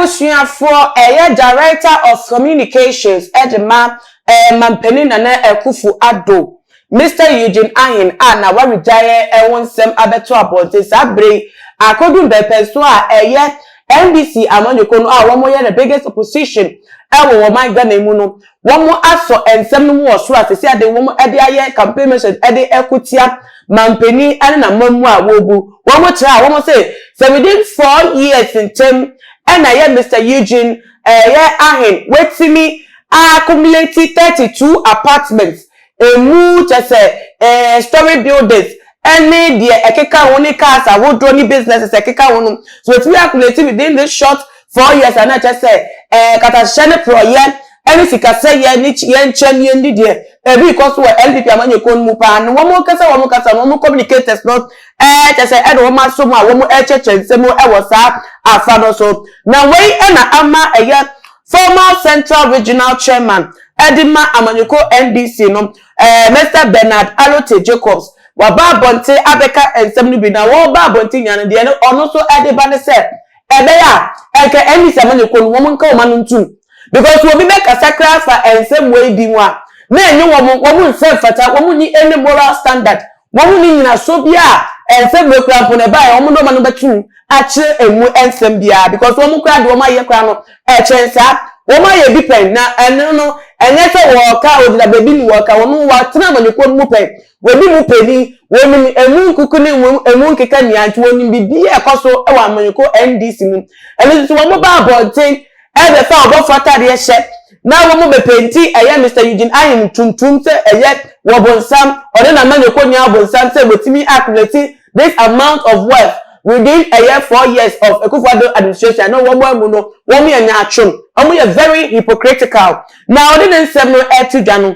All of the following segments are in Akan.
Abusuafoɔ ɛyɛ Director of Communications de ma Mampanin Nana Akuffo Addo, Mister Eugene Ahen a n'awaregyaeɛ ho nsɛm abɛto abɔnten saa berɛ yi akɔduru mpɛnpɛnsoɔ a ɛyɛ NDC amanyɔkuo no a wɔyɛ the biggest opposition wɔ ɔman Ghana mu no wɔn asɔ nsɛm no mu wɔ soro a sɛsi ade wɔn de ayɛ campaign message de reko tia manpanin ne n'amammuo a wɔrebu wɔn kyerɛ a wɔn se sɛ within four years ntɛm na ɛyɛ Mister Eugene ɛyɛ ahen watumi accumulate thirty two apartments Emu kyɛ sɛ eh, storey buildings ne deɛ ɛkeka ho ne cars ahodoɔ ne businesses a ɛkeka ho no. So watumi akuleti within this short four years a na ɛkyɛ sɛ eh, katahyɛ ne porɔyɛ ne sikasɛyɛ ne yɛnkyɛmyɛ ne deɛ ɛrekɔ so wɔ NPP amanyɔkuo no mu paa no wɔn ankasa wɔn ankasa no wɔn communicators no eh, kyɛ sɛ ɛde wɔn asom a wɔn rekyerɛkyerɛ nsɛm wɔ saa afa no so. Na wei na ama ɛyɛ Former Central Regional Chairman de ma amanyɔkuo NDC no, Mister Bernard Alotey Jacobs, waba abɔnten abɛka nsɛm no bi na wɔreba abɔnten nyinaa no, deɛ no ɔno nso de ba ne sɛ, ɛbɛyɛ a, anka NDC amanyɔkuo no, wɔn nka wɔn ano ntom. Because obi bɛkasa koraa afa nsɛm wei bi ho a, na ɛnyɛ wɔn, wɔn nsa mfata, wɔn nni any moral standard. Wɔn ne nyinasoɔ biara a ɛnsɛ mmerɛ koraa mpo na ɛbaeɛ, wɔn nnoɔma no bɛtum akyerɛ ɛmu nsɛm biara because wɔn koraa deɛ wɔn ayɛ koraa no ɛkyɛn saa. Wɔn ayɛ bi pɛn na ɛno no ɛnyɛ sɛ wɔɔka ɔgyina baabi ne wɔɔka, wɔn wɔatena amanyɔkuo no mu pɛn, wɔdi mu panin, wɔnim ɛmu nkuku ne ɛmu nkeka nyinaa nti wɔnim biribiara a ɛkɔ so wɔ amanyɔkuo NDC mu. Ɛno nti wɔn ba abɔnten Ɛbɛ fa ɔbɔfo atadeɛ hyɛ na wɔn bɛ penti ɛyɛ Mister Eugene Ayim tuntum sɛ ɛyɛ wɔ bonsam ɔne na manyɔkɔ nia bonsam sɛ wɔtumi accumulate this amount of wealth within ɛyɛ four years of Akufo Addo administration ne wɔn amu no wɔn yɛ nyaatwom wɔn yɛ very hypocritical na ɔde ne nsɛm no ɛto dwa no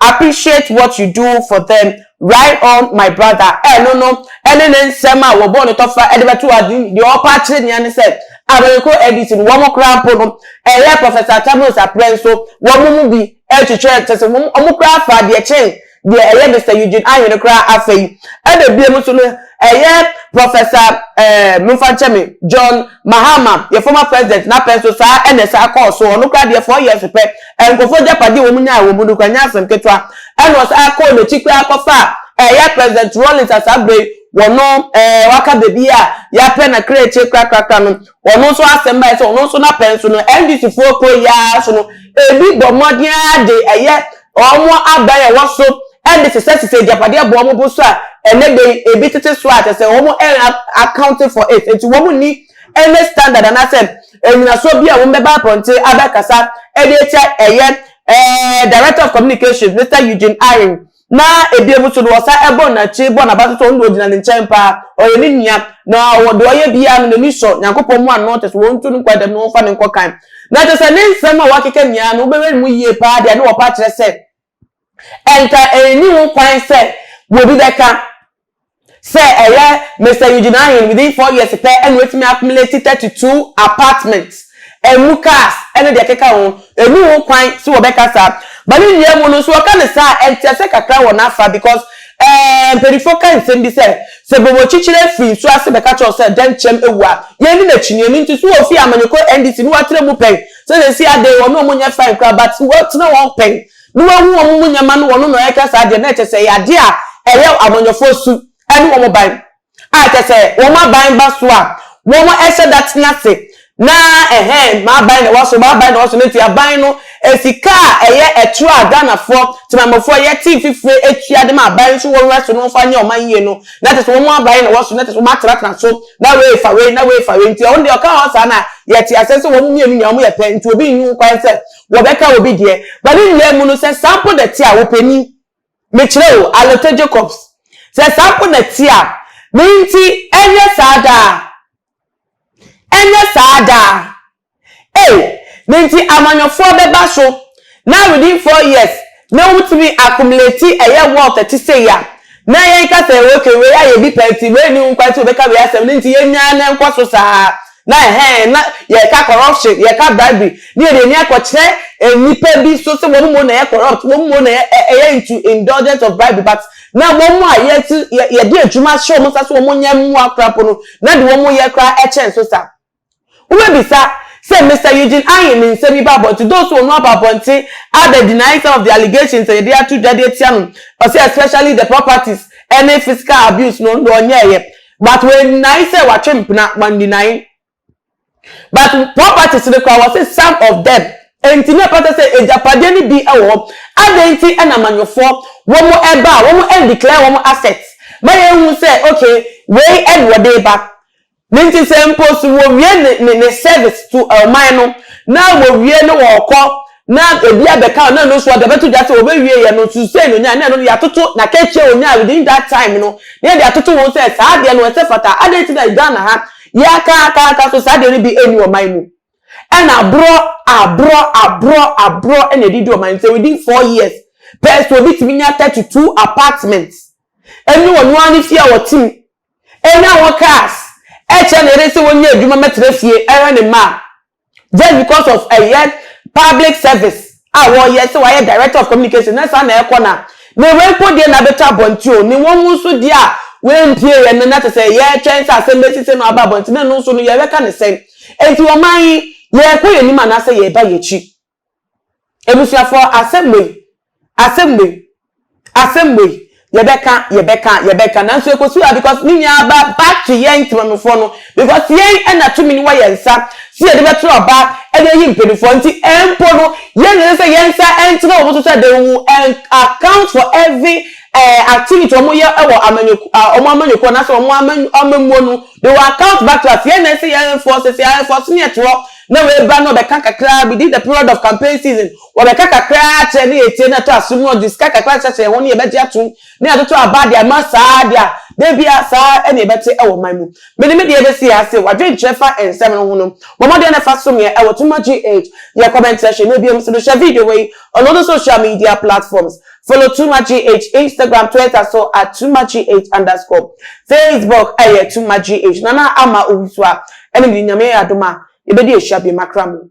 Appreciate what you do for them right on my brother Ɛno no ne ne nsɛm a wɔbɔɔ no tɔfa de bɛtoo ade yi Deɛ ɔpɛ akyerɛ nea ne sɛ Abenekro ADC no wɔn koraa mpo no ɛyɛ Professor Attabulo's aprɛ nso wɔn mu bi kyekyerɛ kyerɛ sɛ wɔn wɔn koraa faa deɛ kyɛn deɛ ɛyɛ Mister Eugene Ayo no koraa Afei ɛna ebiem nso no ɛyɛ Professor ɛɛ momfa nkyɛ me John Mahama yɛn former president n'apɛ nso saa ɛna ɛsan kɔɔ so Ɔno koraa deɛ fɔɔ yɛɛs pɛ nkurɔfo agyapade a wɔnyae wɔ mu no kura nyɛ asɛm ketewa, ɛnna ɔsan kɔɔ n'akyi koraa kɔfaa ɛyɛ President Rawlings a saa bere yi ɔno ɛɛ waka baabi a yɛapɛ na kra akyire krakrakra no, ɔno nso asɛm bae sɛ ɔno nso n'apɛ nso no NDCfoɔ kuro yi ara so no ebi bɔ mmɔden ara de ɛyɛ wɔn aban a ɛwɔ so de sesasesa agyapadeɛ bɔ wɔn bo so a ɛnɛ da yi ebi tete so a kyerɛ sɛ wɔn ɛn accounting for it nti wɔn nni ɛnɛ standard anaasɛ nnyinasoɔ bi a wɔn bɛba apɔnten abɛkasa de atia ɛyɛ ɛɛ director of communications Mister Eugene Aying na ebien mu nso no wɔsan ɛbɔ n'akyi bɔ n'aba nso wɔn na ɔgyina ne nkyɛn paa ɔyɛ ne nua na ɔwɔ deɛ ɔyɛ biara no n'ani sɔ Nyankopɔn mu ano kyɛ sɛ wɔn ntu no nkɔ dɛm na wɔn fa no nkɔ kan na kyɛ sɛ ne nsɛm a wɔakeka nyinaa no wobɛwɛ ne mu yie paa deɛ ne wɔpa kyerɛ sɛ Ɛnka ɛnni ho kwan sɛ obi bɛka sɛ ɛyɛ Mister Eugene Ahen within four years pɛ na watumi accumulate thirty two apartments, ɛmu cars ne deɛ ɛkeka ho. Ɛnni ho kwan sɛ wɔbɛka saa. But ne nnua mu no nso wɔka no saa a, nteaseɛ kakra wɔ n'afa because ɛɛ mpanimfoɔ ka nsɛm bi sɛ, sɛ bobokyekyerɛ firi nsuo ase bɛka kyerɛ wo sɛ dɛnkyɛm awu a, yɛnni n'akyinnyeɛ. Ɛno nti, so wɔfiri amanyɔkuo NDC na wɔatra mu pɛn? Sɛ sɛsi a dee wɔne wɔn nyɛ fine koraa but wɔtena wɔn pɛn ne wahu wɔn mu nyɛma no wɔn na wɔɛka saa deɛ na ɛkyɛ sɛ ɛyɛ adeɛ a ɛyɛ amanyɔfoɔ su ɛne wɔn ban a ɛkyɛ sɛ wɔn aban ba so a wɔn ɛhyɛ da tena ase na ɛhɛn m'aban na ɛwɔ so m'aban na ɛwɔ so na nti aban no sika a ɛyɛ ɛtorɔ a Ghanafoɔ temanmufoɔ yɛte mfifire ɛtua de ma aban nso wɔn ɛso no wɔmfa nyɛ wɔn ayie no na ɛkyɛ sɛ wɔn aban na ɛwɔ so na ɛkyɛ sɛ wɔn atenatena so na wei fa wei na wei fa wei nti ɔno deɛ ɔka hɔ saa na yɛte aseɛ sɛ wɔn mmienu nyinaa wɔyɛ pɛ nti obi nni ho kwan sɛ wɔbɛka obi deɛ ba ne nyinaa mu no sɛ saa mpo na ɛte a wo panin mekyerɛ o Alote Jacobs sɛ saa mpo na ɛte a ne nti ɛnyɛ saa daa ɛnyɛ saa daa. Ei! Ne nti amanyɔfoɔ bɛba so. Na within four years na wotumi accumulate ɛyɛ wealth ɛte sei a, na yɛn ka sɛ okay wei ayɛ bi pɛ nti wei nni ho kwan sɛ wɔbɛka wei asɛm ne nti yɛn nyinaa na ɛnkɔ so saa. Na ɛhɛn na yɛka corruption, yɛka bribery ne yɛde ani akɔkyerɛ nnipa bi so sɛ wɔn mmom na ɛyɛ corrupt, wɔn mmom na ɛyɛ into indulgence of bribery but na wɔn a yɛde adwuma ahyɛ wɔn nsa sɛ wɔnyɛ mmoa koraa mpo no na de wɔn yɛ koraa kyɛn so saa. Wobɛbisa sɛ, Mister Eugene Ayin ne nsɛm yi ba abɔnten? Those who ɔno aba abɔnten other denying some of the allegations a yɛde ato dwa de atia no. Ɔse especially the properties ɛne physical abuse no ɔno ɔnyɛɛyɛ but we deny sɛ watwe mpena, wan deny but properties no koraa ɔse some of them nti na ɛfata sɛ agyapadeɛ no bi wɔ hɔ. Adɛn nti na amanyɔfoɔ wɔn ɛba a wɔn ɛndeclare wɔn assets ma yɛhu sɛ okay wei ɛna ɔde ba. Ne nti sɛ mpo so wɔwie ne ne service to ɔman no na wɔwie na wɔrekɔ na ɛbi abɛka no na ɛno nso ɔde bɛto dwa sɛ wɔbɛwieɛ no nso sei na ɔnyaeɛ na ɛno no yɛatoto n'akatua a ɔnyaeɛ within that time no na yɛde atoto ho sɛ saa adeɛ no ɛsɛ fata adɛn nti na Ghana ha yɛaka aka aka so saa adeɛ no bi ɛnni ɔman mu ɛna aborɔ aborɔ aborɔ aborɔ ɛna ɛde di ɔman mu sɛ within four years pɛɛ sɛ obi tumi nya thirty two apartments ɛne ɔno ara ne fie a ɔte mu Enya hɔn cars, kyerɛ ne yer se wonnya edwuma mbɛtsena fie hwɛ ne mba a, just because of ɔyɛ public service a wɔyɛ, se ɔayɛ director of communication na saa na ɛkɔ na ne wempo deɛ na abɛtɔ abɔnten o, ne wɔn nso deɛ a wempie yɛn no na te sɛ yɛretwɛn sɛ asɛm bɛsi sɛ na waba abɔnten na ɛno nso no yɛbɛka ne sɛn? Enti ɔman yi, yɛrekɔ yɛn anim anaasɛ yɛreba yɛn akyi? Abusuafoɔ asɛm wei, asɛm wei, asɛm wei, yɛbɛka, yɛbɛka, yɛbɛka, nanso ɛkɔsi hɔ a because ne nyinaa aba back to yɛn Temanmufoɔ no because yɛn na tumi no wɔ yɛn nsa sɛ yɛde bɛtena ɔba de ayi mpaninfoɔ nti mpo no yɛn na ɛsɛ sɛ yɛn nsa ntena wɔn so sɛ they will account for every activity wɔn yɛ wɔ amanyɔkuo wɔn amanyɔkuo anaasɛ wɔn amammuo no de wɔn account bato ase yɛn na ɛsɛ yɛ enforce sɛ enforce ne ɛtorɔ na wei ba na ɔbɛka kakraa within the period of campaign season wɔbɛka kakraa akyerɛ na yɛtie na ɛtɔ asom na ɔde sika kakra hyehyɛ yɛn ho na yɛbɛgye atom na yɛatoto aba de ama saa adeɛ a da bia saa na yɛbɛte ɛwɔ man mu me ne me deɛ bɛsi ha se wadwenkyerɛ fa nsɛm no ho no bɔ mmɔden na fa som yɛn ɛwɔ Tuma GH yɛ comment section na biom nso no hyɛ video wei ɔno no social media platforms Follow Tuma GH Instagram Twitter so at Tuma GH underscore Facebook ɛyɛ Tuma GH Nana Ama Owusu a ɛne me Nyame yɛ adom a yɛbɛdi ahyia biem akra mo.